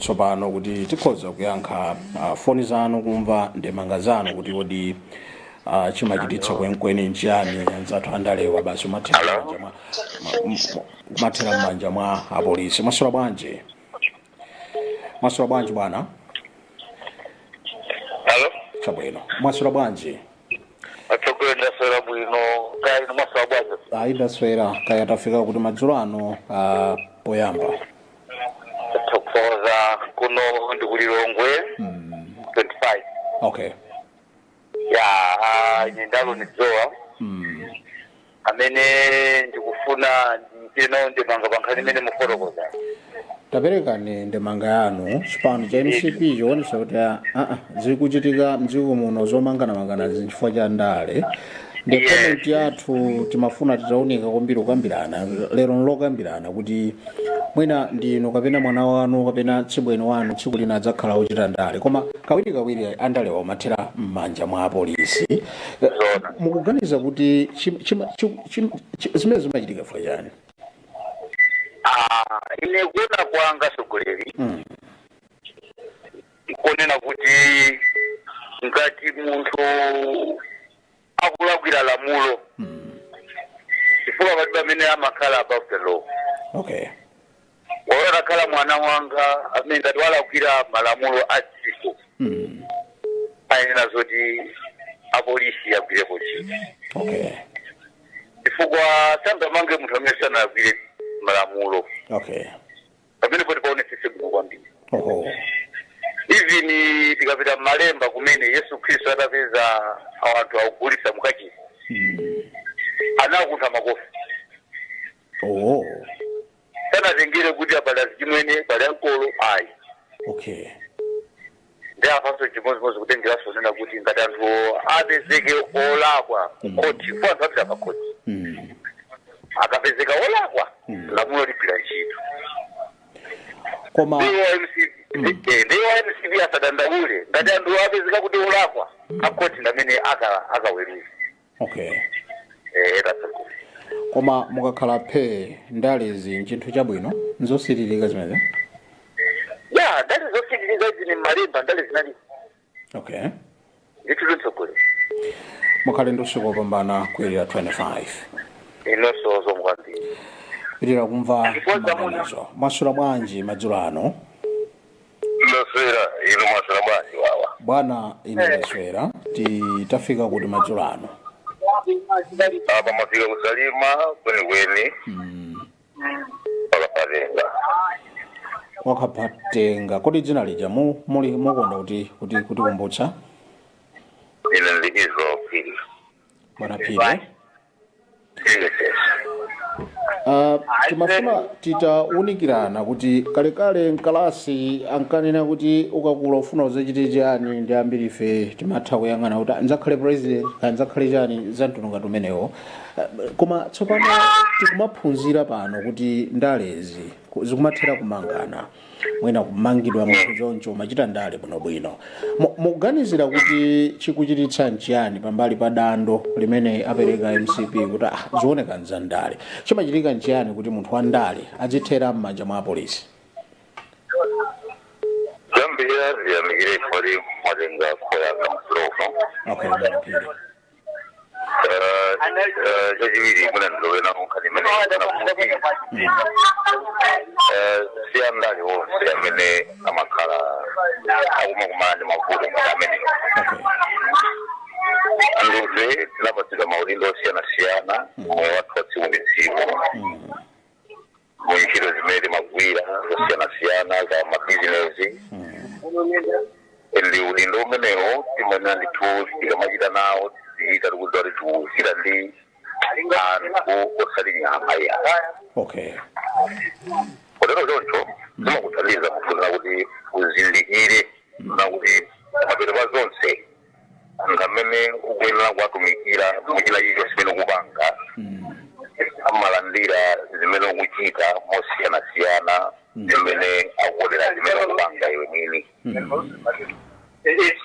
tsopano kuti tikhoza kuyankha uh, foni zanu kumva ndemanga zanu kuti kodi uh, chimachititsa kwenikweni nchiyani anzathu andalewa basi umathera Hello? m'manja mwa- ma- m- m- umathera m'manja mwa apolisi mwaswera bwanji mwaswera bwanji bwana Hello? chabwino mwaswera bwanji Atsogoleri ndaswera bwino kaya inu mwaswera bwanji. ayi ndaswera kaya tafika kuti madzulo ano uh, poyamba tathokoza kuno ndi ku lilongwe mm. 25 okay ya ah, ine ndalowa nizowa mm. amene ndikufuna ndichite nawo ndemanga pa nkhani imene mukufotokoza taperekani ndemanga yanu chipani cha mcp chikuonetsa kuti aa zikuchitika mdziko muno zomanganamangana zinthu chifukwa cha ndale nde Yes. comment yathu timafuna titaunika kwambiri kukambirana lero ndokambirana kuti mwina ndinu kapena mwana wanu kapena tsibweni wanu tsiku lina adzakhala ochita ndale koma kawirikawiri andalewa amathera m'manja mwa apolisi Eh, Zona. mukuganiza kuti chim- chima- chim- chim- chi- zimene zimachitika chifukwa chani Ah, ine kuona kwanga atsogoleri Mm. nkonena kuti ngati munthu akulakwira lamulo chifukwa palibe amene amakhala above the law okay olo atakhala mwana wanga amene ngati walakwira malamulo a dziko mm. ayenera kuti apolisi agwirepo ntchito okay chifukwa sangamange munthu amene sanalakwire malamulo okay pamenepo ti paonesese bwino kwambiri oho even tikapita mmalemba kumene yesu khristu atapeza anthu akugulitsa mukachisi anawakuntha makofi oho sanatengere kuti apa pali achimwene pali ankolo ayi okay nde apanso chimodzimodzi kutengeranso kunena kuti ngati anthu apezeke olakwa kukhoti poti anthu apita pakhoti Mm. akapezeka olakwa lamulo ligwira ntchito koma ndiye a mcp eh, ndiye a mcp asadandaule ngati anthu apezeka kuti olakwa akhoti ndamene aka- akaweruza okay eh basi koma mukakhala phe ndalezi nchinthu chabwino nzosiririka zimenezo ya ndale zosiririka izi ni malemba ndale zinali okay ndithu atsogoleri mukhale ndi usiku wopambana ku area 25 inonso zikomo kwambiri tipitirize kumva maganizo mwaswera bwanji madzulo ano ndaswera inu mwaswera bwanji wawa bwana ine ndaswera titafika kuti madzulo ano apa mafika ku Salima kwenikweni pakapatenga wakhapatenga kodi dzina lija mu- muli mukonda kuti kuti kuti kumbutsa ine ndili Kizo Phiri bwana phiri Ah, timafuna titaunikirana kuti kalekale mkalasi ankanena kuti ukakula ufuna udzachite chani ndi ambiri ife timatha kuyang'ana kuti "Ah, ndidzakhale president kaya ndidzakhale chani za mtundu ngati umenewo Ah, koma tsopano tikumaphunzira pano kuti ndalezi ku- zikumathera kumangana mwina kumangidwa munthu chonsecho umachita ndale bwinobwino Mu- mukuganizira kuti chikuchititsa nchiyani pambali pa dandaulo limene apereka mcp kuti ah, zioneka nza ndale chimachitika nchiyani kuti munthu wa ndale adzithera m'manja mwa apolisi zambiri aziyamikire ifali malinga khoyaka mfulofa okay mapiri chachiwiri mwandilowetsa nawo nkhani imene si andale onse amene amakhala akumakumana ndi mavuto ngati amene Okay. ndife tinapatsidwa maudindo osiyanasiyana m'moyo wathu wa tsiku ndi tsiku mu ntchito zimene timagwira zosiyanasiyana za mabizinesi ndi udindo umenewo timayenera ndithu tikamachita nawo tizichita tikudziwa kuti tikuchita ndi anthu osati nyama iyayi okay kotero choncho zimakuthandiza munthu kuti uzindikire na kuti mapeto a zonse munthu amene ukuyenera kuwatumikira muchina chilichonse chimene ukupanga amalandira zimene ukuchita mosiyanasiyana zimene akuonera zimene ukupanga iwe mwini.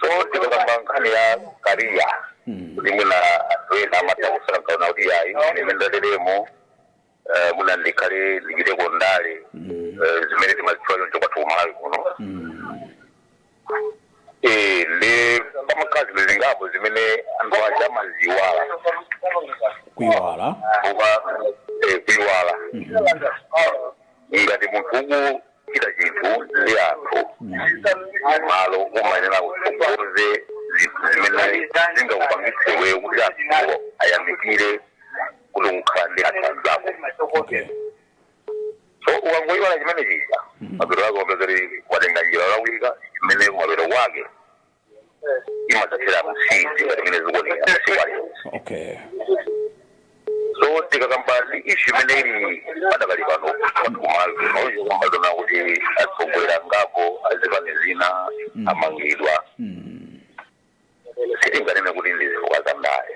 So tikakamba nkhani ya kariya kuti mwina anthu ena amatha kusakaona kuti ayi imene ndateremo eh, mwina ndikhale ndichiteko ndale eh, zimene timazitchula choncho kwathu ku Malawi kuno Eh, ndi pamakhala zinthu zingapo zimene anthu aja amaziwala kuiwala kuba eh, kuiwala ngati munthu uku kuchita chinthu ndi anthu m'malo umayenera kutsogoza zinthu zimene zingakupangitse iweyo kuti anthuwo ayamikire kuti ukukhala ndi anthu anzako so ukangoyiwala chimenechija mapeto ake upeza kuti watenga njira yolakwika imene mapeto ake imadzathera mnjira ngati mmene zikuonekera masiku aliwonse okay so tikakamba ndi ishu imene ili padakali pano kumaona nkumaona kuti atsogoleri ngapo azipani zina amangidwa sitinganene kuti ndi zifukwa za ndale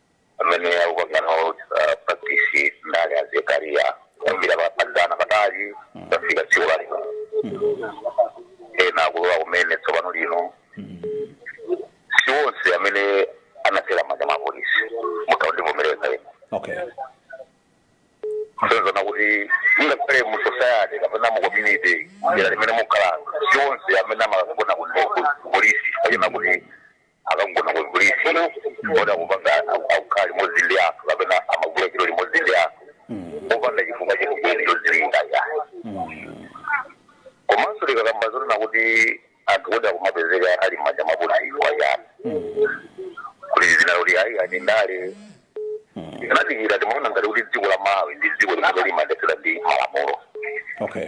amene akupanga nawo uh, practice ndale ya zenizeni kuyambira pakalekale patali kufika tsiku la lino ena akulowa kumene tsopano lino si onse amene anagwera mmanja mwa polisi mutha kundivomereza ena okay zonena kuti ngakhale mu society kapena mu community dera limene mukhala si onse amene amakagona ku polisi kapena kuti akagona ku polisi oti akupanga akukhala limodzi ndi anthu kapena amagwira ntchito limodzi ndi anthu popanda chifukwa chenicheni chodziwika yayi Komano tikakamba zonena kuti anthu kuti akumapezeka ali m'manja mwa apolisi kwa yani kuti zina kuti ayi ndi ndale anadikira ndimaona ngati kuti dziko la malawi ndi dziko limene limayendetsedwa ndi malamulo okay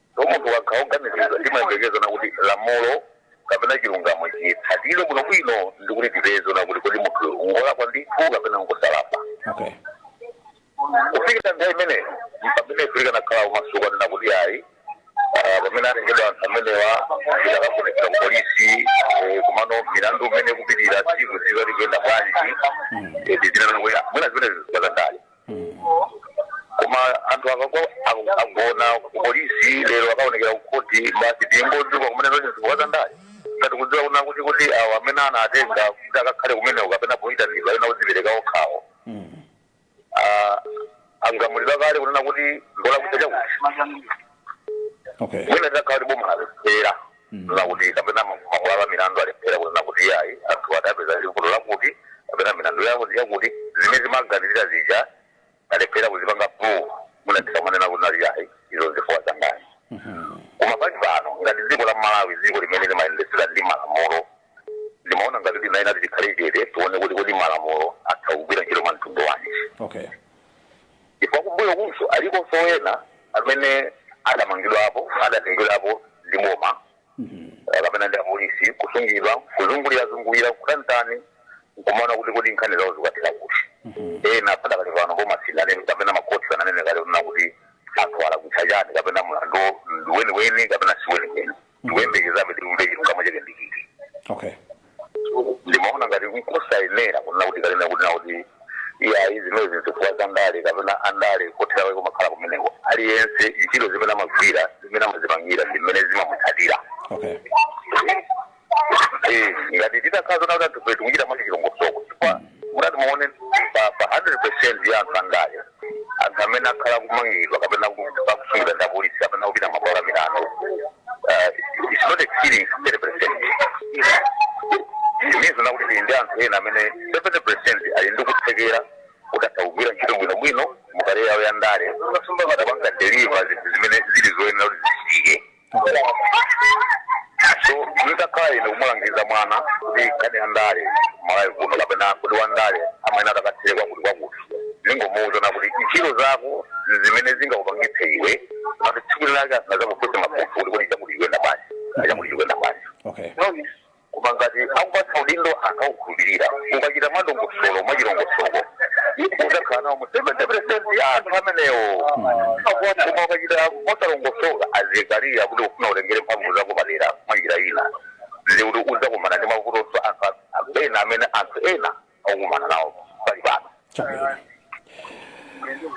So munthu ukakhala oganiziridwa timayembekeza kunena kuti lamulo kapena chilungamo chitsatidwe bwino bwino ndi kuti tipeze zoona kuti kodi munthu ngolakwa ndithu kapena ngosalakwa okay kufikira nthawi imeneyo mpamene tingathe kukhala omasuka kunena kuti ayi ah, pamene atengedwa anthu amenewa tikawafunsa ku polisi eh, komanso milandu mmene ikupitira tsiku tsiku ikuyenda bwanji tizinena kuti mwina zimene zi zifukwa za ndale koma anthu akagwa aku- agona kupolisi lero akaonekera kukhoti basi tikungodziwa kumene zonse zifukwa za ndale ngati tikudziwa kunena kuti awo amene anawatenga kuti akakhale kumeneko kapena poyitanidwa ena kudzipereka okhawo Ah, agamulidwa kale kunena kuti ngolakwa chakuti okay mwina takhala kuti boma alephera nakuti kapena mabwalo a milandu alephera kunena kuti iyayi anthuwa tawapeza ndi vuto lakuti kapena milandu yawo yakuti, zimene timaganizira zija alephera kuzipanga prove, mwina tikamanena kunena kuti iyayi izo n'zifukwa zandale. Koma pali pano, ngati dziko la Malawi, dziko limene limayendetsedwa ndi malamulo, ndimaona ngati kuti tiyeni tikhale chete tione kuti kodi malamulo atha kugwira ntchito mwa mtundu wanji okay chifukwa kumbuyo kunso alikonso ena amene adamangidwapo adatengedwapo ndi boma eh, kapena ndi apolisi kusungidwa kuzungulirazungulira kutantani nkumaona kuti kodi nkhani zawo zikathera kuti ena padakali pano boma sinanene kapena makhoti sananene kale kunena kuti anthu alakwitsa chani kapena mlandu ndi weniweni kapena si weniweni ndikuyembekezabe timve chilungamo chake ndi chiti okay ndimaona ngati nkosayenera kunena kuti kunena kuti nakuti iyayi zimenezi nzifukwa za ndale kapena andale kothera kwake kumakhala kumeneko aliyense ntchito zimene amagwira zimene amazipangira ndi mmene zimamutsatira okay Eh, ngati titakhala zona kuti anthufe tikuchita mwachi chilongosoko chifukwa mutati muone pa pa 100 percent ya anthu andale anthu amene akhala akumangidwa kapena akusungidwa ndi apolisi kapena kupita m'mabwalo a milandu uh, it's not exceeding 30 percent it means kunena kuti tili ndi anthu ena amene 70 percent ali ndi kuthekera kuti atha kugwira ntchito bwinobwino mu career yawo ya ndale akapanga deliver zinthu zimene zili zoyenera kuti zichitike so nditakhala ine kumulangiza mwana kuti nkhani ya ndale malawi kuno kapena kuti wa ndale amene atakathere kwakuti kwakuti ndingomuuza kunena kuti ntchito zako zimene zingakupangitse iwe kuti tsiku lake asazakufunse mafunso kuti kodi chakuti iwe ndabasi chakuti iwe ndabasi okay no Koma ngati akupatsa udindo anthu akukhulupirira, ukachita mwadongosolo, mwachilongosoko, udzakhala nawo mu 70% ya anthu amenewo. Koma ukachita mosalongosoka, azikalia kuti ufuna utengere mphamvu zapadera mwa njira ina, ndiye kuti udzakumana ndi mavutonso anthu a- ena amene anthu ena akumana nawo pali pano chabwino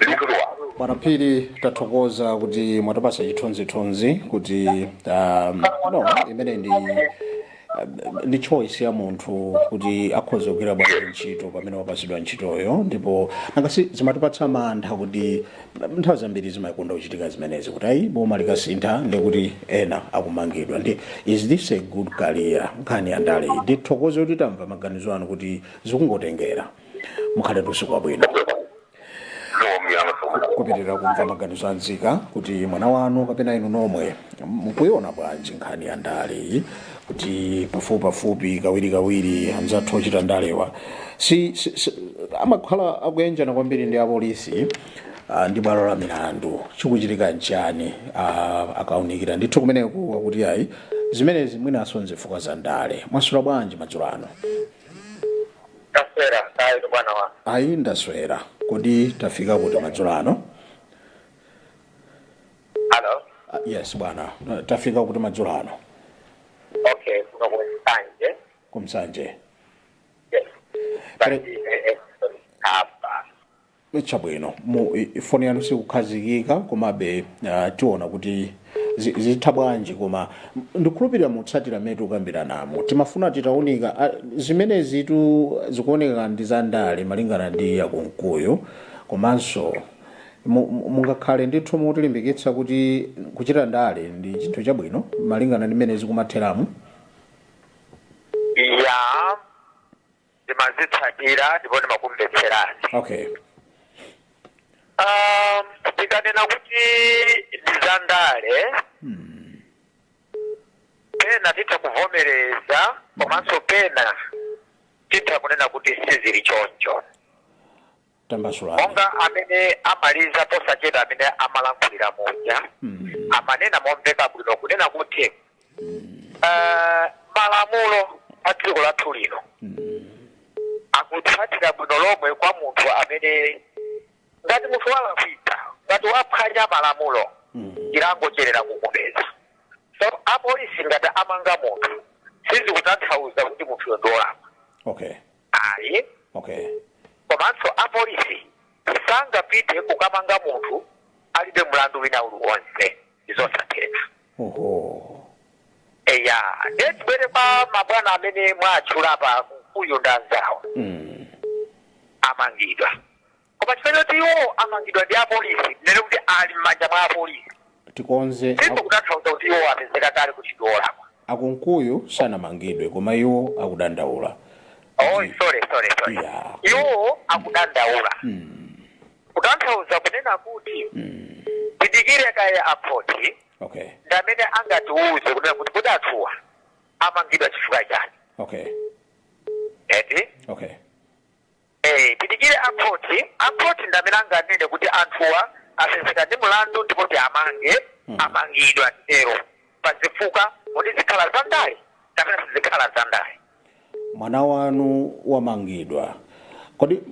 ndithu a bwana phiri tathokoza kuti mwatipasa chithunzithunzi kuti um, no imene ndi um, ndi choice ya munthu kuti akhoza kugwira bwanji ntchito pamene wapasidwa ntchitoyo ndipo nanga si zimatipatsa mantha kuti nthawi zambiri zimakonda kuchitika zimenezi kuti ayi boma likasintha ndiye kuti ena akumangidwa ndi is this a good career nkhani ya ndale iyi ndithokoze kuti tamva maganizo anu kuti zikungotengera mukhale ndi usiku wabwino kupitiriza kumva maganizo a nzika kuti mwana wanu kapena inu nomwe mukuiona bwanji nkhani ya ndale iyi kuti pafupipafupi kawirikawiri anzathu ochita ndalewa si, si, si, amakhala akuyanjana kwambiri ndi apolisi ah, ndi bwalo la milandu chikuchitika nchani ah, akuunikira ndithu kumeneko akuti ayi zimenezi mwinaso nzifukwa za ndale mwaswera bwanji madzulo ano ndaswera kaya bwana wa ayi ndaswera kodi tafika kuti madzulo ano Hello? Ah, yes bwana Eh, tafika kuti madzulo ano Okay, kuno ku Nsanje. ku Nsanje Yes. Pali Exxon hapa. chabwino mu i- foni yanu sikukhazikika komabe ah, tiona kuti zi- zitha bwanji koma m- ndikhulupirira mukutsatira mmene tikukambiranamo timafuna titaunika ah, zimene zinthu zikuoneka ndi a ndale malingana ndi a Kumkuyu komanso Mu- mu- Mungakhale ndithu mutilimbikitsa kuti kuchita ndale ndi chinthu chabwino malingana ndi mmene zikumatheramo. ya ndimazitsatira ndipo ndimakumvetserani Okay. Ah, ndikanena kuti ndi za ndale pena titha kuvomereza komanso pena titha kunena kuti sizili choncho tambasulani monga amene amaliza posachedwa amene amalankhulira muja amanena momveka bwino kunena kuti eh, malamulo a dziko lathu lino akutsatira bwino lomwe kwa munthu amene ngati munthu walakwitsa ngati waphwanya malamulo chilango choyenera kumupeza so apolisi ngati amumanga munthu sizikutanthauza kuti munthuyo ndi wolakwa okay ayi okay komanso apolisi sangapite kukamanga munthu alibe mlandu wina uliwonse ndizosatheka oho eya ndiye tibwere kwa mabwana amene mwatchula a Kunkuyu ndanzawo mm. amangidwa Koma chifukwa choti iwo amangidwa ndi apolisi, tinene kuti ali m'manja mwa apolisi, Tikonze ak sizikutanthauza kuti iwo apezeka kale kuti ndi olakwa. a Kunkuyu sanamangidwe koma iwo akudandaula Oh, kuti sorry, sorry, sorry. ya Iwo akudandaula kutanthauza kunena kuti tidikire kaye akhoti okay ndi amene angatiuze kunena kuti kodi anthuwa amangidwa chifukwa chani okay eti okay Eee tidikire a court, a court ndi amene anganene kuti anthuwa apezeka ndi mlandu ndipo ati amange, amangidwa titero pa zifukwa kodi zikhala za ndale kapena sizikhala za ndale. Mwana wanu wamangidwa kodi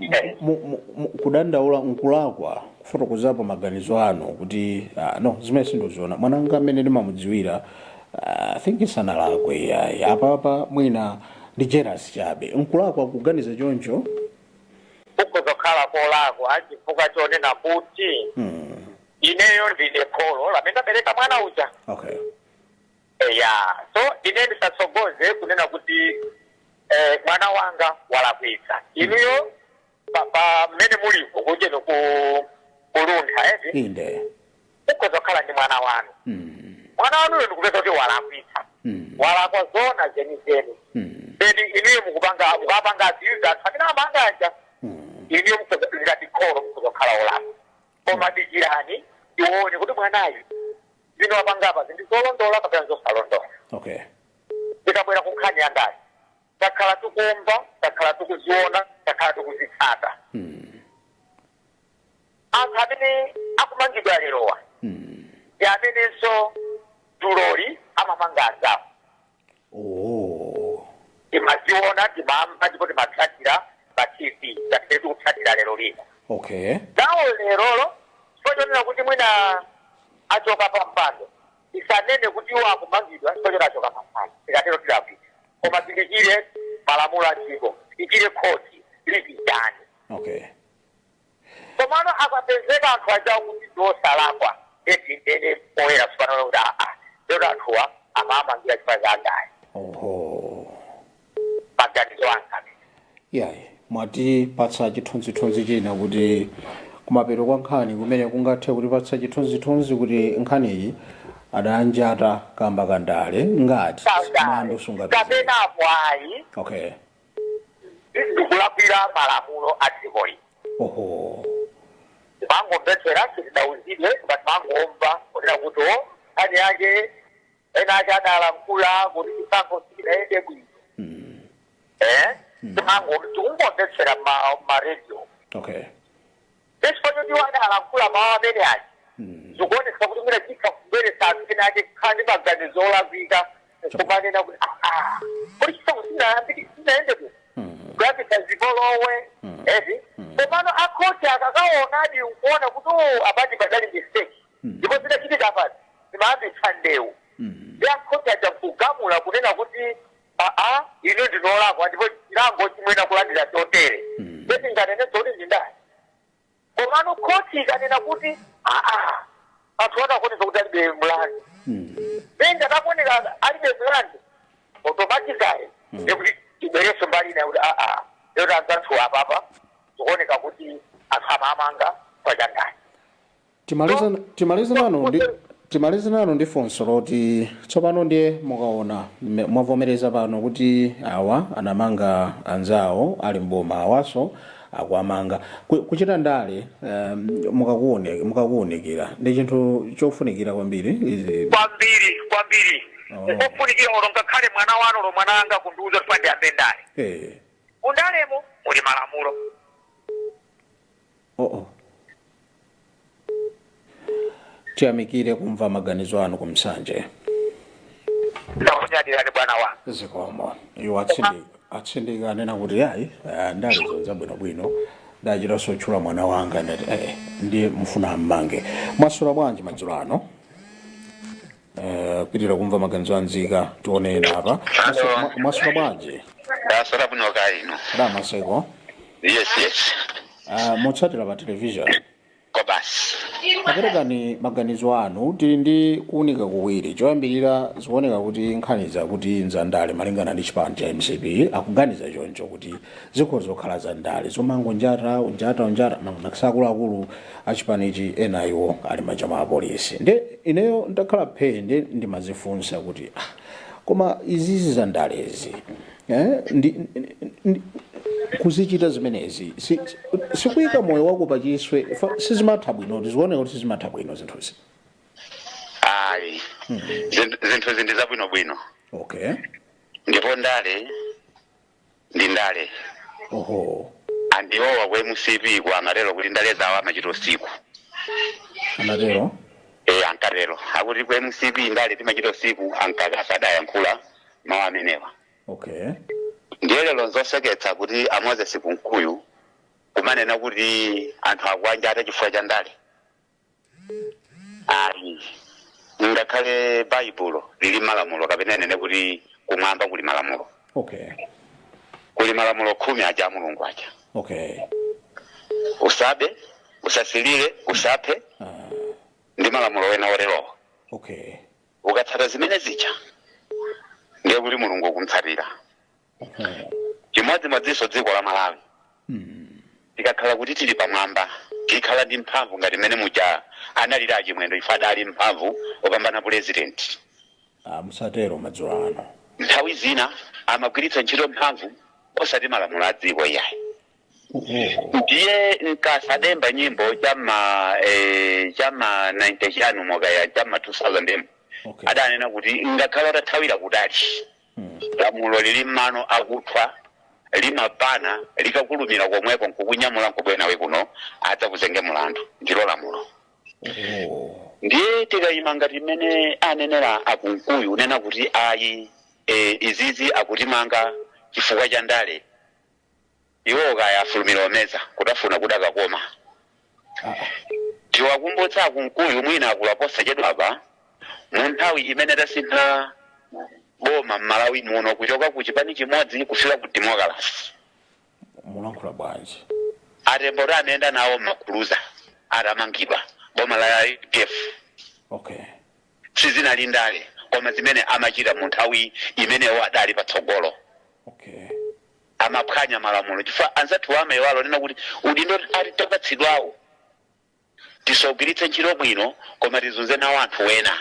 mu, mu, mu, mu, kudandaula nkulakwa kufotokozapo maganizo anu kuti ah, no zimene sindikuziona mwana wanga amene ndimamudziwira I think sanalakwe iyayi apapa mwina ndi jealous chabe nkulakwa kuganiza choncho kukhoza kukhala kolakwa chifukwa chonena kuti hmm. ineyo ndine kholo lamene ndabereka mwana uja okay eya so ine ndisatsogoze kunena kuti eh, mwana wanga walakwitsa inuyo pa- pa mmene muliko kunjako a Kuluntha eti inde mukhoza kukhala ndi mwana wanu Mm, mwana wanuyo ndikupezeka kuti walakwitsa mm, walakwa zona zenizeni mm, then inuyo mukupanga mukapanga zowadzudzula anthu amene amanga aja mm. inuyo mukhoza ngati kholo mukhoza kukhala olakwa koma dikirani tione kuti mwanayu zina wapangapa zinthu zolondola kapena zosalondoloka okay ndikabwera ku nkhani ya ndani takhala tikumva takhala tikuziona takhala tikuzitsata anthu amene akumangidwa lerowa ndi amenenso dzuloli amamanga anzawo oh timaziona timamva ndipo timatsatira pa tv ngati tikutsatira lero lino okay nawo lerolo chifukwa chonena kuti mwina achoka pa mpando Tisanene kuti iwo akumangidwa chifukwa choti achoka pa mpando. Tikatero tilakwitsa. Koma tidikire malamulo a dziko. Tidikire khoti lichitanji. Okay. Komano akapezeka anthu ajawo kuti ndi osalakwa ndiye tinene poyera tsopano kuti aa, anthuwa amawamangira chifukwa cha ndale. Oho. maganizo anga amene. Iyayi, mwatipatsa chithunzithunzi china kuti kumapeto kwa nkhani kumene kungathe kutipatsa chithunzithunzi kuti nkhaniyi adanjata kamba ka ndale ngati Kandale. mlandu sungapezeke. Kapena apo ayi. Okay. Izi ndikulakwira malamulo a dziko lino. Oho. Timangomvetsera sitidauzidwe koma timangomva kunena kuti o nkhani yake ena aja adalankhula kuti chisankho sichidayende bwino eh timango tikungomvetsera m'ma radio okay chifukwa choti iwo adalankhula mawu amene aja zikuonesa kuti mwina chitha kubweretsa anthu ena aja kukhala ndi maganizo olakwika nkumanena kuti "Ah, ah, kuti chisankho sinayambike sinayende bwino kuyambitsa zipolowe eti komano akhothi akakaonadi nkuona kuti "Oh, apadi padali mistake ndipo zikachitika basi zikanayambitsa ndewu ndi a khoti aja nkugamula kunena kuti aa inu ndinu olakwa ndipo chilango mukuyenera kulandira chotere nde tinganenenso kuti si ndale ayi komano khoti ikanena kuti aa anthu awa akuoneka kuti alibe mlandu benga takuoneka alibe mlandu automatically ndikuti tibwerenso mbali ina kuti aa anzathuwa apapa zikuoneka kuti anthu amamanga pa za ndale timalize timalize nanu ndi timalize nanu ndi funso loti tsopano ndiye mukaona mme- mwavomereza pano kuti awa anamanga anzawo ali mboma awanso akuwamanga Ku- kuchita ndale um, mukakuone- mukakuunikira ndi chinthu chofunikira kwambiri izi kwambiri kwambiri Oh. nkofunikira olo ngakhale mwana wanu olo mwana wanga kundiuza kuti ndiyambe ndale eh, mundalemo muli malamulo oh oh tiyamikire kumva maganizo anu ku Nsanje ndakunyadirani bwana wa zikomo iwo atsindi atsindika anena kuti ayi ah, ndale ndi zinthu za bwinobwino achita kutchula mwana wanga nati eh, ndiye mufuna ammange mwaswera bwanji madzulo ano Eh, kupitiriza kumva maganizo a nzika tionane apa Maswe- ma- maswera bwanji ndaswera bwino kaya inu a Maseko yes yes Ah, mukutsatira pa television kwa basi perekani maganizo anu tili ndi kuunika kuwiri choyambirira zikuoneka kuti nkhani zakuti nzandale malingana ndi chipani cha mcp akuganiza choncho kuti zikhoza kukhala za ndale zomangonjata njata njata makamaka akuluakulu achipanichi ena iwo ali m'manja mwa apolisi nde ineyo ndakhala phee nde ndimazifunsa kuti ah, koma izizi za ndalezi eh, ndi, ndi, ndi, kuzichita zimenezi si- si- sikuyika moyo wako pachiswe fa- sizimatha bwino zikuoneka kuti sizimatha bwino zinthuzi ayi Zinthu- zinthuzi ndi zabwinobwino okay ndipo ndale ndi ndale oho anthu awowa ku mcp ku amatero kuti ndale zawo amachita usiku anatero e ankatero akuti ku mcp ndale timachita usiku a Mkaka adayankhula mawu amenewa okay ndiye lero nzoseketsa kuti a Moses Kunkuyu kumanena kuti anthu akuwanjata chifukwa cha ndale ayi ngakhale baibulo lili malamulo kapena inene kuti kumwamba kuli malamulo okay kuli malamulo khumi aja a mulungu aja okay usabe usasilire usaphe uh, ndi malamulo ena oterowo okay ukatsata zimene zija ndiye kuti mulungu ukumutsatira chimodzimodzinso dziko la malawi tikakhala kuti tili pamwamba tikhala ndi mphamvu ngati mmene muja analili a Chimwendo chifukwa adali mphamvu kupambana pulezidenti Ah, musatero madzulo ano nthawi zina amagwiritsa ntchito mphamvu osati malamulo a dziko iyayi ndiye a Mkasa adayimba nyimbo chama eh, chama 90 chanimo kaya chama 2000 okay. adanena kuti ngakhale atathawira kutali Lamulo lili n'mano akuthwa limapana likakulumira komweko nkukunyamula nkubwera nawe kuno adzakuzenge mulandu ndilo lamulo ndiye tikayima ngati mmene anenera a Kunkuyu kunena kuti ayi e, izizi akutimanga chifukwa cha ndale Iwowo kaya afulumira omeza kutafuna kudakakoma. Tiwakumbutse a Kunkuyu mwina akula posachedwapa mu nthawi imene tasintha boma m'Malawi muno kuchoka ku chipani chimodzi kufika ku demokalase. mukulankhula bwanji? A Tembo tu amayenda nawo m'makuruza atamangidwa boma la udf. Okay. Sizinali ndale koma zimene amachita mu nthawi imene iwo adali patsogolo. Okay. amaphwanya malamulo chifukwa anzathuwa amaiwala kunena kuti udindo oti tapatsidwawu tisaugwiritse ntchito bwino koma tizunze nawo anthu wena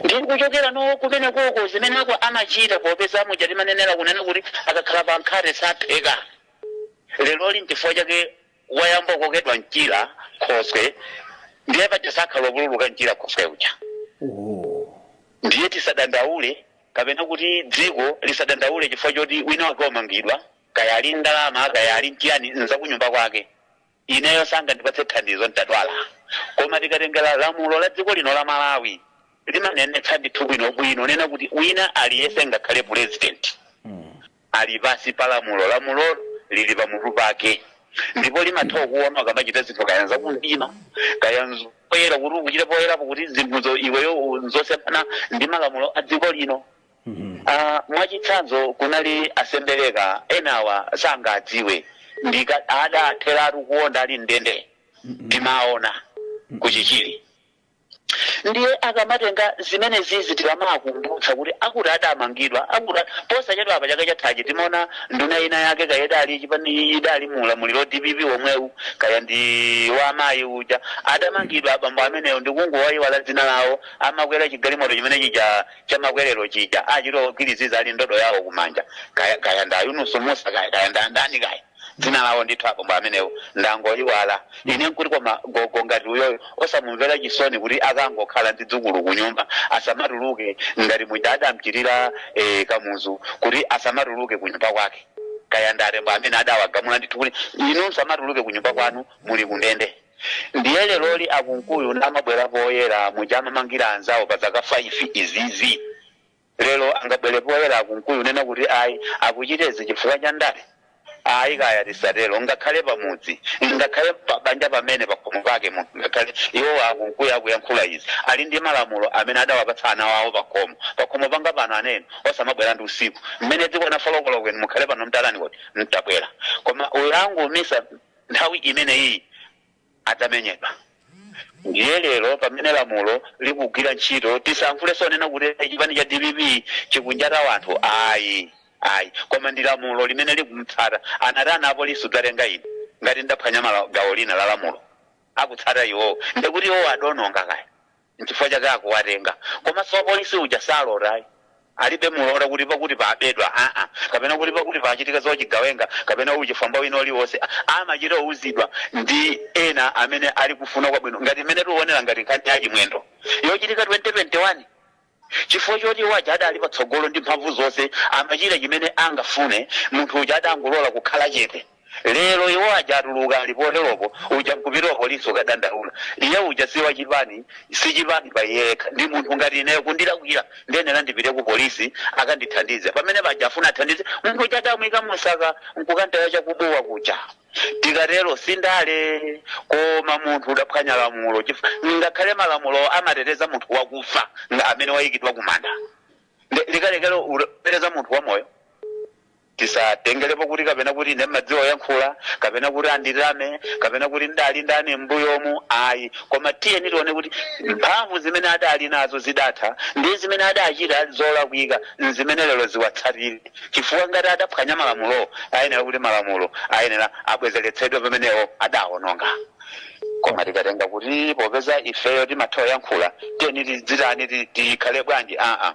ndi kuchokera no kumene koko zimeneko amachita popeza muja timanenera kunena kuti akakhala pa nkhate sapheka leroli nchifukwa chake wayamba kukokedwa mchira khoswe ndiye paja sakhala wopululuka mchira khoswe uja ndiye tisadandaule kapena kuti dziko lisadandaule chifukwa choti wina wake wamangidwa kaya ali ndalama kaya ali mchiyani nzakunyumba kwake ineyo sangandipatse thandizo ntadwala koma tikatengera lamulo la dziko lino la malawi limanenetsa ndithu bwinobwino nena kuti wina aliyese ngakhale pulezidenti ali pansi pa lamulo. Lamulolo lili pamutu pake ndipo limatha kukuona ukamachita zinthu kaya nzakumdima kaya nzapoyera, kuti ukuchita poyerapo kuti zinthuzo iweyo u- nzosemphana ndi malamulo a dziko lino. Ah, mwachitsanzo kunali a Sembereka enawa sangadziwe ndika adatheratu kuonda ali mndende timaona kuchichiri ndiye akamatenga zimene zizi tikamakumbutsa kuti akuti adamangidwa akuti posachedwa apa chaka chathachi timaona nduna ina yake kaya idali chipani idali mu ulamuliro wa dpp womwewu kaya ndi wa amayi uja adamangidwa abambo amenewo ndikungowayiwala dzina lawo amakwera chigalimoto chimene chija chamakwerero chija achita ogwiriziza ali ndodo yawo kumanja kaya kaya ndi a yunusu musa kaya kaya ndi andani kaya dzina lawo ndithu abambo amenewo ndangoyiwala ine nkuti koma gogo ngati uyoyo osamumvera chisoni kuti akangokhala ndi dzukulu kunyumba asamatuluke ngati muja adamchitira eh, kamuzu kuti asamatuluke kunyumba kwake kaya nda tembo amene adawagamula ndithu kuti inu msamatuluke kunyumba kwanu muli kundende ndiye leroli a kunkuyu ndamabwera poyera muja amamangira anzawo pa zaka 5 izizi Lero angabwere poyera a Kunkuyu kunena kuti ayi akuchita izi chifukwa cha ndale? Ayi kaya tisatero ngakhale pamudzi, ngakhale pa banja pamene pakhomo pake munthu ngakhale iwowa a Kunkuyu akuyankhula izi ali ndi malamulo amene adawapatsa ana awo pakhomo. Pakhomo panga pano ana inu osamabwera ndi usiku. Mmene dzikwana folokoloko inu mukhale pano mtatani kodi? Mtabwera koma uyu angomisa nthawi imeneyiyi. adzamenyedwa. Ndiye lero pamene lamulo likugwira ntchito tisayankhulenso onena kuti chipani cha dpp chikunjata wanthu ayi ayi koma ndi lamulo limene likumtsata anatani apolisi kudzatenga ine ngati ndaphwanya mala, gawo lina la lamulo akutsata iwowo ndekuti iwowo adononga kaya nchifukwa chake akuwatenga komaso wapolice uja salota ayi alibe mulora kuti pakuti pabedwa aa kapena kuti pakuti pachitika zochigawenga kapena uchifwamba wina uliwonse amachita kuuzidwa ndi ena amene ali kufuna kwabwino ngati mmene tikuonera ngati nkhani ya chimwendo yochitika 2021 chifukwa choti iwo aja adali patsogolo ndi mphamvu zonse amachita chimene angafune munthu uja adangolola kukhala chete Lero iwo aja atuluka ali poteropo, uja nkupita ku polisi kukadandaula. Iye uja si wachipani, si chipani pa iye yekha, ndi munthu ngati ineyo. Kundilakwira ndiyenera ndipite ku polisi akandithandize. Pamene paja afuna athandize munthu uja adamuika mumsaka nkukamtaya cha ku Bua kuja. Tikatero si ndale, koma munthu udaphwanya lamulo chifukwa ngakhale malamulowo amateteza munthu wakufa amene waikidwa kumanda, nde likalekelo uteteza munthu wamoyo? Tisatengelepo kuti kapena kuti ine ndimadziwa kuyankhula, kapena kuti anditame, kapena kuti ndidali ndani mmbuyomu, ayi, koma tiyeni tione kuti mphamvu zimene adali nazo zidatha ndi zimene adachita zolakwika nzimene lero ziwatsatire chifukwa ngati adaphwanya malamulowo ayenera kuti malamulo ayenera abwezeretsedwe pameneo adaononga. Koma tikatenga kuti popeza ifeyo timatha kuyankhula tiyeni tidzitani, tikhale bwanji, aa,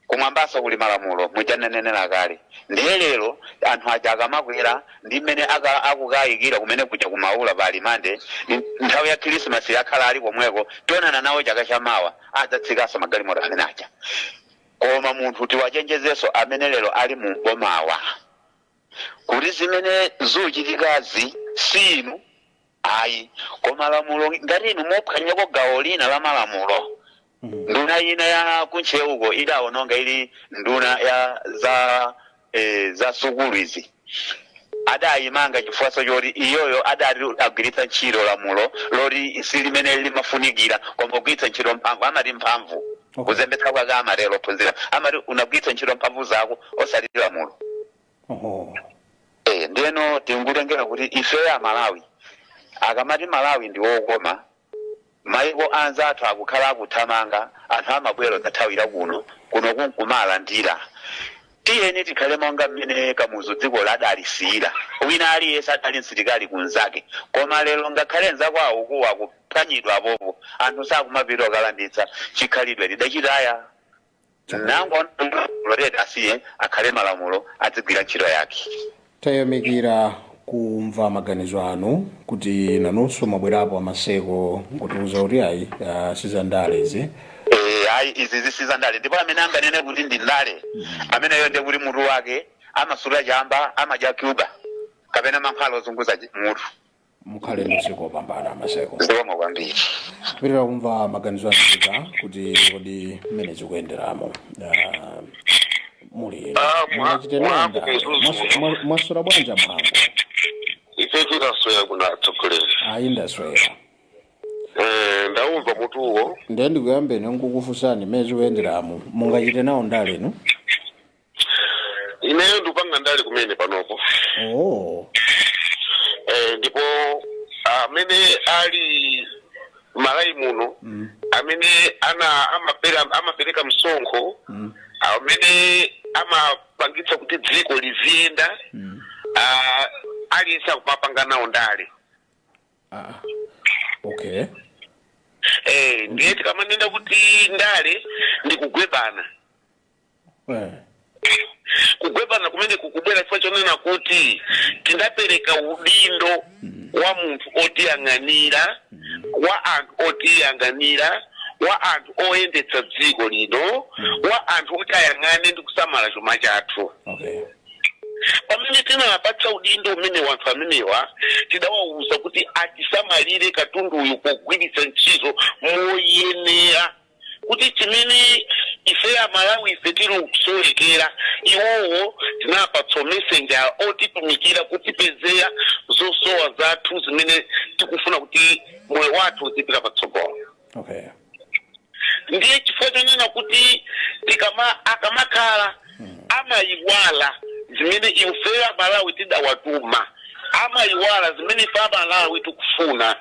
Kumwambaso kuli malamulo muja nnanenela kale ndiye lero anthu aja akamakwera ndi mmene akukayikira kumene kuja ku maula pa alimande nthawi ya khilisimasi akhala ali komweko tionana nawo chaka cha mawa adzatsikaso magalimoto amene aja koma munthu tiwachenjezeso amene lero ali m'bomawa kuti zimene zuchitikazi si inu Ayi. Koma lamulo ngati inu muphwanyako gawo lina la malamulo, nduna ina ya kuntcheuko idawononga ili nduna ya za eh, za sukulu izi adaimanga chifukwaso choti iyoyo adati agwiritsa ntchito lamulo loti si limene limafunikira koma kugwiritsa ntchito mphamvu amati mphamvu Okay. kuzembetsa kwake amatero ophunzira amati unagwiritsa ntchito mphamvu zako osati lamulo Eh, ndiyeno tikutengera kuti ifeyo amalawi akamati malawi ndi wokoma maiko anzathu akakhala akuthamanga anthu amabwera kuthawira kuno kuno kunkumalandira tiyeni tikhale monga mmene kamuzu dziko ladalisiyira wina aliyense adali msilikali kunzake koma lero ngakhale nzako akukuwa akuphwanyidwa apopo anthu sakumapita okalanditsa chikhalidwe tidachitaya nanga tiwalole tiwasiye akhale malamulo adzigwira ntchito yake tayamikira kumva maganizo anu kuti nanunso mwabwerapo amaseko nkutiuza kuti ayi ah, sizandale izi Eh, ayi izizi si za ndale ndipo amene anganene kuti ndi ndale ameneyo ndi kuti mutu wake amasuta chamba amadya cuba kapena mankhwala ozunguza mutu mukhale ndi usiku wopambana maseko zikomo kwambiri kupitira kumva maganizo aika kuti kodi mmene zikuyenderamo ah, muli Ah, mwa- mungachite mwangu ndale kuzuzu. Mwasu- mwa- mwasula bwanja mwangu ife tikasoya kuna atsogoleri ayi ndaswera Eh, ndaumva mutuwo ndiye ndikuyambeni nkukufunsani mmene zikuyenderamo mungachite nawo ndale inu ineyo ndikupanga ndale kumene panopo oh eh, ndipo amene ali mmalawi muno mm. amene ana amapera amapereka msonkho Mm. amene amapangitsa kuti dziko liziyenda Mm. ah, aliyense akumapanga nawo ndale ah okay eh, ndiye tikamanena kuti ndale ndikugwebana kugwebana kumene kukubwera chifukwa chonena kuti tinapereka udindo wa munthu otiyang'anira wa anthu otiyang'anira wa anthu oyendetsa dziko lino wa anthu oti ayang'ane ndi kusamala chuma chathu okay pamene tinawapatsa udindo umenewu anthu amenewa tidawawuza kuti atisamalire katunduyu pogwiritsa ntchito moyenera kuti chimene ife amalawi ife tili kusowekera iwowo tinapatsa umessenger otitumikira kutipezera zosowa zathu zimene tikufuna kuti moyo wathu uzipita patsogolo okay ndiye chifukwa chonena kuti tikama akamakhala amayiwala zimene ifeyo amalawi tidawatuma amayiwala zimene ife amalawi tikufuna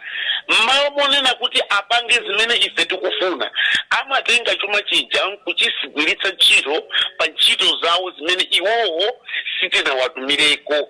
mmalo monena kuti apange zimene ife tikufuna amatenga chuma chija nkuchigwiritsa ntchito pa ntchito zawo zimene iwowo sitinawatumireko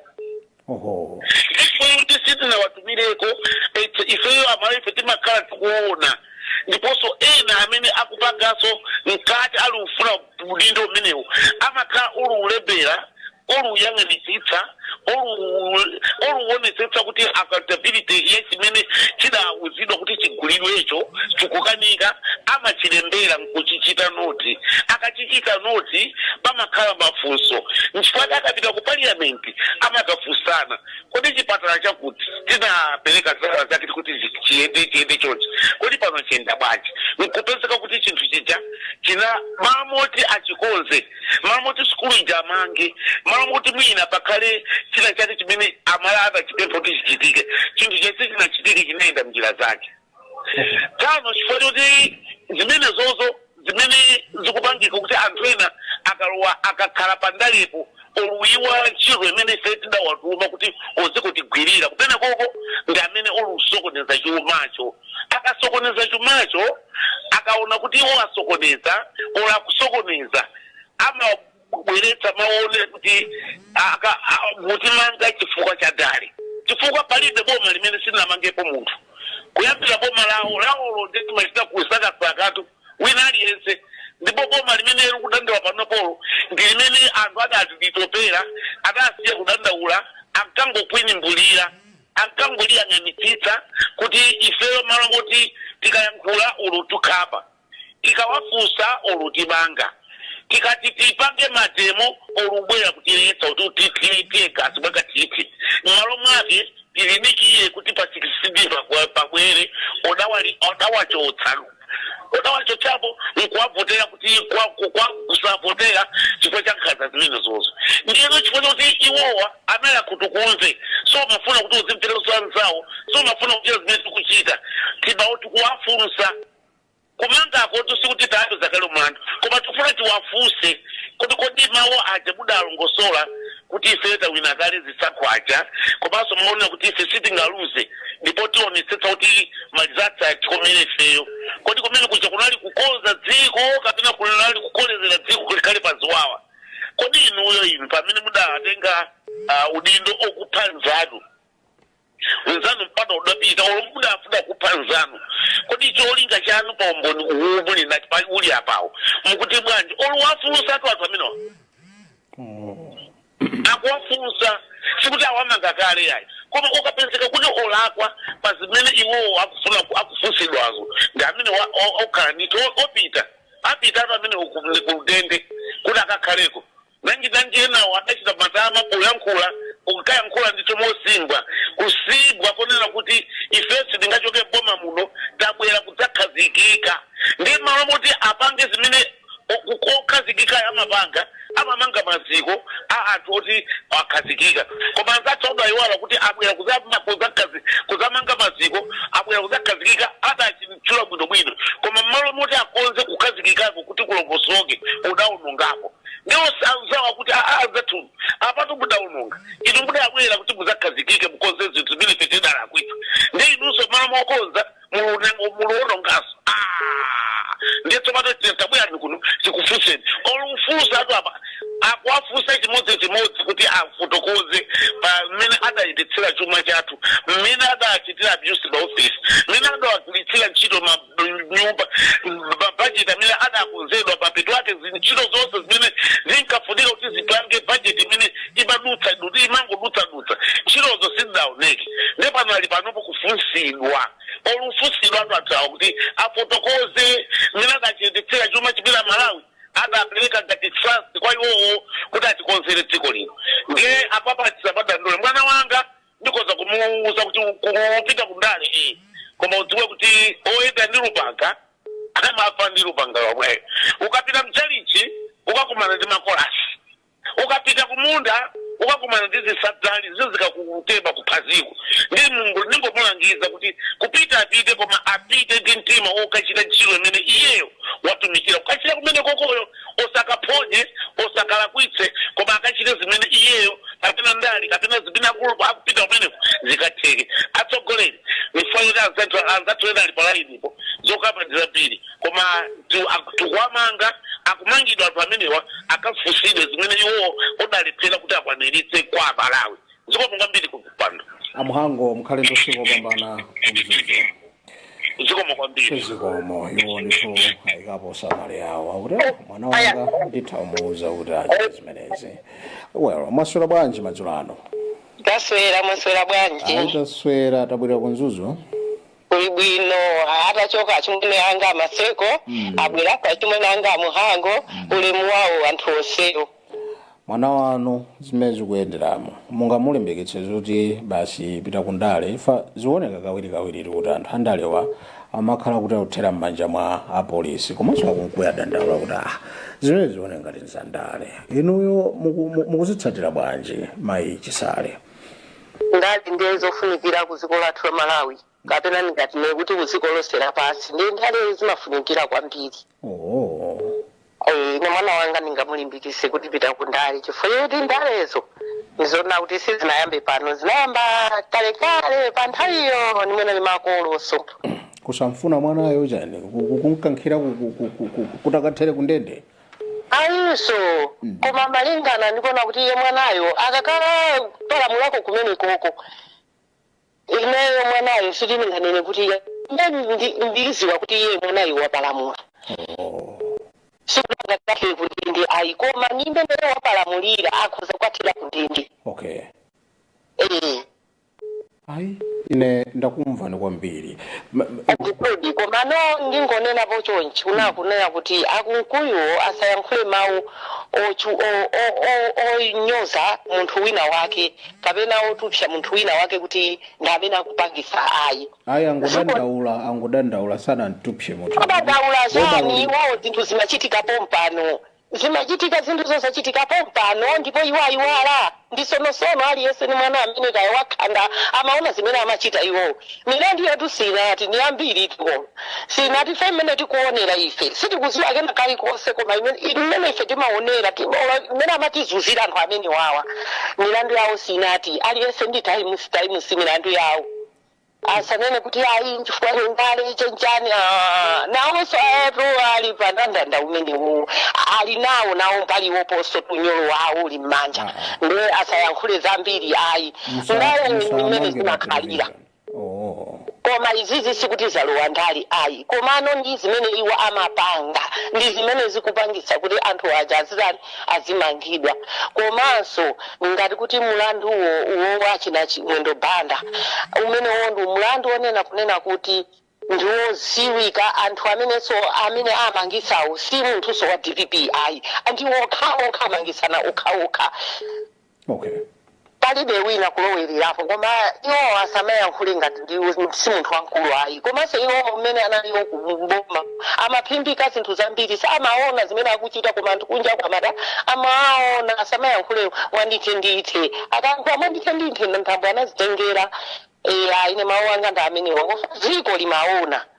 Oho. ndipo kuti sitinawatumileko etse ifeyo amalawi ife timakhala tikuona ndiponso ena amene akupanganso mkati ali ufuna udindo umenewu amakhala ali ulembera ali uyang'anitsitsa ali- ali uonetsetsa kuti accountability ya chimene chidauzidwa kuti chigulidwecho chikukanika amachilembera nkuchichita noti akachichita noti pamakhala mafunso nchifukwa akapita ku parliament kuti amadzafunsana kodi chipatala chakuti tinapereka ndalama zake kuti zi- chiyende chiyende chonchi kodi pano chiyenda bwanji nkupezeka kuti chinthu chija china malo moti achikonze malo moti sukulu ija amange malo moti mwina pakhale china chake chimene amalawi adachipempha kuti chichitike chinthu chija sichinachitike chinayenda mnjira zanji pano chifukwa choti zimenezozo zimene zikupangika kuti anthu ena akalowa akakhala pandalepo oluyiwala ntchito imene ife tidawatuma kuti uzikutigwirira kumenekoko ndi amene olusokoneza chumacho akasokoneza chumacho akaona kuti iwo asokoneza ola kusokoneza ama kubweretsa mawu onena kuti aka- a- mukutimanga chifukwa cha ndale chifukwa palibe boma limene silinamangepo munthu kuyambira boma lawo lawolo lidachita kusakasakatu wina aliyense ndipo boma limeneli kudandaula panopolo ndi limene anthu adalitopera adasiya kudandaula ankangokwinimbulira ankangoliyang'anitsitsa kuti ifeyo malo moti tikayankhula olutikhapa tikawafunsa olo kutimanga tikati tipange mademo olubwera kutiletsa kutithira teargas mwakathithi m'malo mwake tidikire kuti pa 16 pakwa- pabwere odawali- odawachotsa odawachotsapo nkuwavotera kuti kwa- ku- kwa- kusavotera chifukwa cha nkhanza zimenezozo ndiyeno chifukwa chakuti iwowa anali akhutukumve samafuna kuti uzimvera za anzawo samafuna kuchita zimene tikuchita ndi pawo tikuwafunsa Kumangakotu sikuti tawapeza kale mlandu koma tikufuna tiwafunse kuti kodi mawu aja mudalongosola kuti ifeyo tawina kale zisankho aja komanso mumanena kuti ife sitingaluze ndipo tionetsetsa kuti ma results atikomere ifeyo kodi kumene kuja kunali kukonza dziko kapena kunali kukolezera dziko kuti likhale pa ziwawa kodi inuyo inu pamene mudatenga ah, udindo okupha mnzanu mnzanu mpaka udapita olo mudafuna kupha mnzanu kodi cholinga chanu pa umboni uwu muli nati pali uli apawo mukuti bwanji oluwafunsatu anthu amenewa akuwafunsa sikuti awamanga kale yayi koma ukapezeka kuti olakwa pa zimene iwowo akufuna ku- akufunsidwazo ndi amene wa- o- okhala ndithu o- opita apitatu kumene uku- ndi kundende kuti akakhaleko Nanjinanji enawo adachita matama poyankhula ankayankhula ndithu mosimbwa kusimbwa konena kuti ifeyo sitingachoke m'boma muno tabwera kudzakhazikika ndiye m'malo moti apange zimene okhazikikayo amapanga amamanga maziko a anthu oti akhazikika koma anzathu udaiwala kuti abwera kudzamanga maziko abwera kudzakhazikika adachitchula bwinobwino koma m'malo moti akonze kukhazikikako kuti kulongosoke udaonongapo. ndi onse anzawo akuti aa anzathu apatu mudaononga inu mudabwera kuti mudzakhazikike mukonze zinthu zimene ife tidalakwitsa ndi inunso mmalo mokonza mulunengo- muluononganso Ah! ndiye tsopano tiyeni tabwerani kuno tikufunseni olifunsatu apa akuwafunsa chimodzimodzi kuti afotokoze pa mmene adayendetsera chuma chathu mmene adachitira abuse maofisi mmene adawagwiritsira ntchito ma nyumba mabajeti amene adakonzedwa mapeto ake ntchito zonse zimene zinkafunika kuti zipange bajeti imene imadutsa kuti imangodutsadutsa ntchitozo sizidaoneke ndi pano ali panopo kufunsidwa ali kufunsidwatu athuwa kuti afotokoze mmene adayendetsera chuma chimene Amalawi adapereka ngati trust kwa iwowo kuti atikonzere dziko lino ndiye apapa tisapadandule mwana wanga ndikhoza kumuwuza kuti kupita kundale iyi koma udziwe kuti oyenda ndi lupanga amafa ndi lupanga lomweyo ukapita mchalichi ukakumana ndi makolasi ukapita kumunda ukakumana ndi zisa zizikakutema kuphaziko ndi mulungu ndingomulangiza kuti kupita apite koma apite ndi mtima wokachita ntchito imene iyeyo watumikila kukachita kumenekoko usakaphonye usakalakwitse koma akachite zimene iyeyo kapena ndale kapena zimene akulu akupita kumeneko zikatheke atsogoleri ifeyo kuti anzathu anzathu ena ali palayinipo zokamba ndi zambiri koma tu- ak- tikuwamanga akumangidwa anthu amenewa akafunsidwe zimene iwowo adalephera kuti akwaniritse kwa amalawi zikomo kwambiri kumpando amhango mukhale ndi usiku wopambana kumzuzu zikomo kwambiri zikomo iwo ndithu ayikapo ndemanga yawo akuti "Ah, mwana wanga ndithamuuza kuti achite zimenezi well mwaswera bwanji madzulo ano taswera mwaswera bwanji ayi taswera tabwera kumzuzu kuli bwino ah, atachoka achimwene anga amaseko Mm. abwera achimwene anga amuhango ulemu wawo anthu onsewo mwana wanu zimene zikuyenderamo mungamulimbikitse zoti basi pita ku ndale ife zikuoneka kawirikawiri kuti anthu andalewa amakhala kuti akuthera m'manja mwa apolisi komanso akumkuya adandaula kuti ah zimenezi zioneka ngati zandale inuyo muku- mu- mukuzitsatira bwanji mayi chisale Ndale ndiye zofunikira ku dziko lathu la Malawi kapena ndingati ne kuti ku dziko lonse lapansi ndiye ndale zimafunikira kwambiri. Oh. Eh, ine mwana wanga ndingamulimbikise kuti pita ku ndale chifukwa choti ndalezo ndizona kuti sizinayambe pano zinayamba kalekale pa nthawiyo ndimwe ndi makolo osamfuna mwanayo chani Ku- ku- kumkankhira ku- ku- ku- ku- ku- kutakathere kundende Ayinso, koma malingana ndikuona kuti iye mwanayo akakhala kupalamulako kumenekoko, ineyo mwanayo sitinganene kuti iye ndi- ndi- mbiri ziwa kuti iye mwanayo wapalamula sikuti angakathere kundende ayi koma ni mmene wapalamulira akhoza kukathera kundende okay Eh. ai ine ndakumvani kwambiri Ma- ma- ndikudi komano ndingonenapo chonchi kunena kuti a Mkuyuwo asayankhule mawu ochu- o- o- o- onyoza munthu wina wake kapena otupsa munthu wina wake kuti ndi amene akupangisa ayi ayi angodandaula angodandaula sanamtupse munthu adandaula chani Wodawulika. iwo zinthu zimachitika pompano Zimachitika zinthu zozachitika pompano, ndipo iwo ayiwala. Ndi sono sono, aliyense ndi mwana amene kaya wakhanda amaona zimene amachita iwo. Milandu yathu siinathe, ndi yambiri tuko. Siinathe ife mmene tikuonera ife. Sitikuziwa kena kalikonse koma imene imene ife timaonera, timaona imene amatizunzira anthu amenewawa. Milandu yawo siinathe, aliyense ndi times milandu yawo. asanene kuti ayi nchifukwa cha ndale chenjani ah, nawonso iwotu ali pa ndandanda umenewo ali nawo nawo mbali woposo unyolo wawo uli m'manja Ah. nde asayankhule zambiri ayi Musa- ndale ndi musamange mmene pa zimakhalira television. Oh. koma izizi sikuti zalowa ndale ayi komano ndi zimene iwo amapanga ndi zimene zikupangisa kuti anthu aja azitani azimangidwa komanso ngati kuti mlanduwo uwo wa Chimwendo Banda umenewo ndi mlandu onena kunena kuti ndiwoziwika anthu amenenso amene amangisawo si munthuso wa dpp ayi ndi okha okha amangisana okha okha okay palibe wina kulowererapo koma iwo asamayankhule ngati ndi si munthu wamkulu ayi komanso iwo mmene analiwo kuboma amaphimbika zinthu zambiri samaona zimene akuchita koma anthu kunja kwamada amaona asamayankhule mwandithendithe akayankhula mwandithendithe nthambo anazitengera eya ine mawu anga ndi amenewa kof dziko limaona